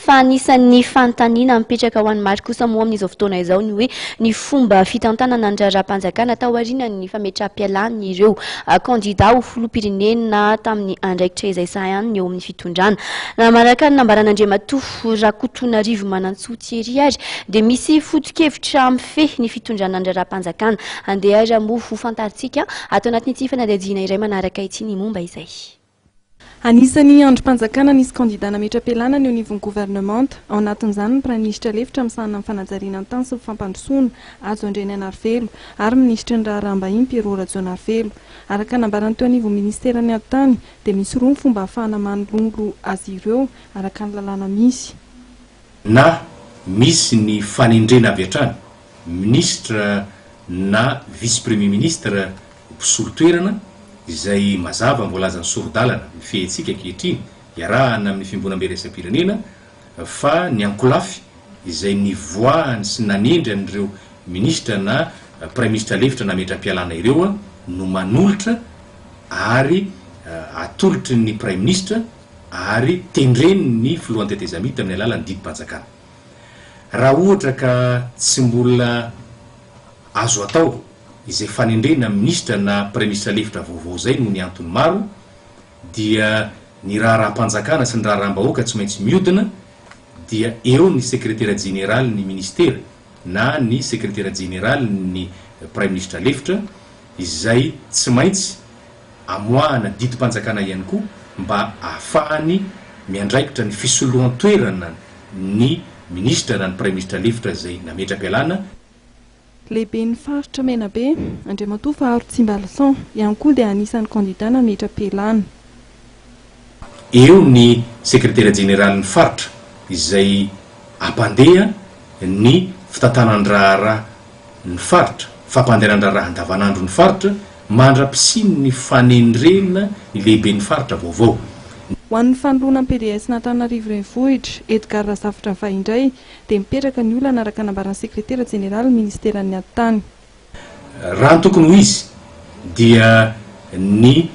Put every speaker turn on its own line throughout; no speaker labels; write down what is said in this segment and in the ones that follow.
Fa anisan'ny fanontaniana mipetraka ho an'i Marc kosa moa amin'izao fotoana izao ny hoe ny fomba fitantanana ny raharaham-panjakana taorianan'ny fametraham-pialan'ireo kandida ho filoham-pirenena tamin'ny andraikitra izay sahaniny eo amin'ny fitondrana. Manaraka ny nambaran'Andriamatoa Rakotonarivo Manantsoa Thierry ary dia misy foto-kevitra mifehy ny fitondrana ny raharaham-panjakana. Andeha ary moa ho fantarintsika ato anatin'ity fanadihadiana iray manaraka ity ny momba izay. Anisan'ny
andrim-panjakana nisy kandidà nametra-pialana ny eo anivon'ny governemanta, ao anatin'izany ny praiminisitra lefitra misahana ny fanajariana ny tany sy ny fampandrosoana, Hajo Andrianainarivelo, ary minisitry ny Raharaham-bahiny, Pierrot Rajaonarivelo. Araka ny nambaran'ny teo anivon'ny minisiteran'ny Atitany, dia misy roa ny fomba ahafahana manololo azy ireo, araka ny lalàna misy. Na
misy ny fanendrena avy hatrany minisitra na vice premier ministre mpisolo toerana izay mazava ny voalazan'ny sori-dalana mifehentsika ankehitriny iarahana amin'ny fiomboanambe iraisam-pirenena fa ny ankolafy izay nivoahany sy nanendry an'ireo minisitra na praiminisitra lefitra nametram-pialana ireo no manolotra ary atolotry ny praiminisitra ary tendren'ny filohan'ny tetezamita amin'ny alalan'ny didim-panjakana. Raha ohatra ka tsy mbola azo atao izay fanendrena minisitra na praiminisitra lefitra vaovao izay noho ny antony maro dia ny raharaham-panjakana sy ny raharaham-bahoaka tsy maintsy miodina dia eo ny sekretera jeneraly ny minisitera na ny sekretera jeneraly ny praiminisitra lefitra izay tsy maintsy amoahana didim-panjakana ihany koa mba ahafahany miandraikitra ny fisoloan-toerana ny minisitra na ny praiminisitra lefitra izay nametra-pialana.
Lehiben'ny faritra Menabe, Andriamatoa Faharo Tsimbalason, ihany koa dia anisan'ny kandidà nametra-pialana.
eo ny sekretera jeneralin'ny faritra izay ampandeha ny fitatanan-draharaha ny faritra, fampandenan-draharaha andavanandro ny faritra mandra-pisian' ny fanendrena ny lehiben'ny faritra vaovao. Ho an'ny
fanoloana ny PDS an'Antananarivo Renivohitra, Edgard Razafitravahy indray dia mipetraka ny olana araka nambaran'ny sekretera jeneralin'ny ministeran'ny atitany.
Raha ny tokony ho izy dia ny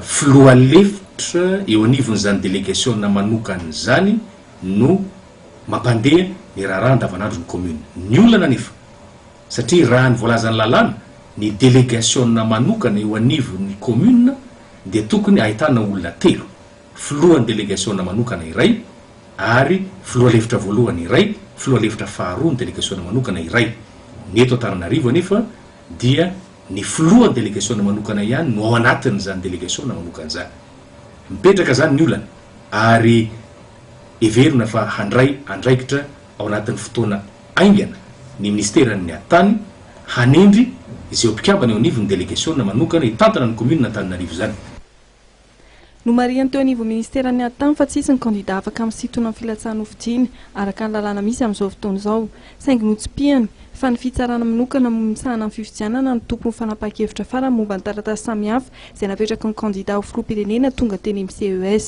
filoha lefitra eo anivon'izany delegasiona manokana izany no mampandeha ny raharaha andavanandron'ny commune. Ny olana anefa, satria raha ny voalazan'ny lalàna, ny delegasiona manokana eo anivon'ny commune dia tokony ahitana olona telo. filohan'ny delegasiona manokana iray ary filoha lefitra voalohany iray, filoha lefitra faharoa ny delegasiona manokana iray. Ny eto Antananarivo anefa dia ny filohan'ny delegasiona manokana ihany no ao anatin'izany delegasiona manokana izany. Mipetraka izany ny olana ary heverina fa handray andraikitra ao anatin'ny fotoana haingana ny minisiteran'ny Atany hanendry izeo mpikambana eo anivon'ny delegasiona manokana hitantana ny kaominina Antananarivo izany.
Nomarihiny teo anivon'ny minisiteran'ny Atm fa tsisy ny kandidà afaka misintona ny filatsahan'ny hofidiana araka ny lalàna misy amin'izao fotoana izao, saingy notsipihany fa ny fitsarana manokana misahana ny fifidianana no tompon'ny fanapahan-kevitra farany momba ny taratasy samihafa izay napetraky ny kandidà ho filoham-pirenena tonga teny amin'ny CES.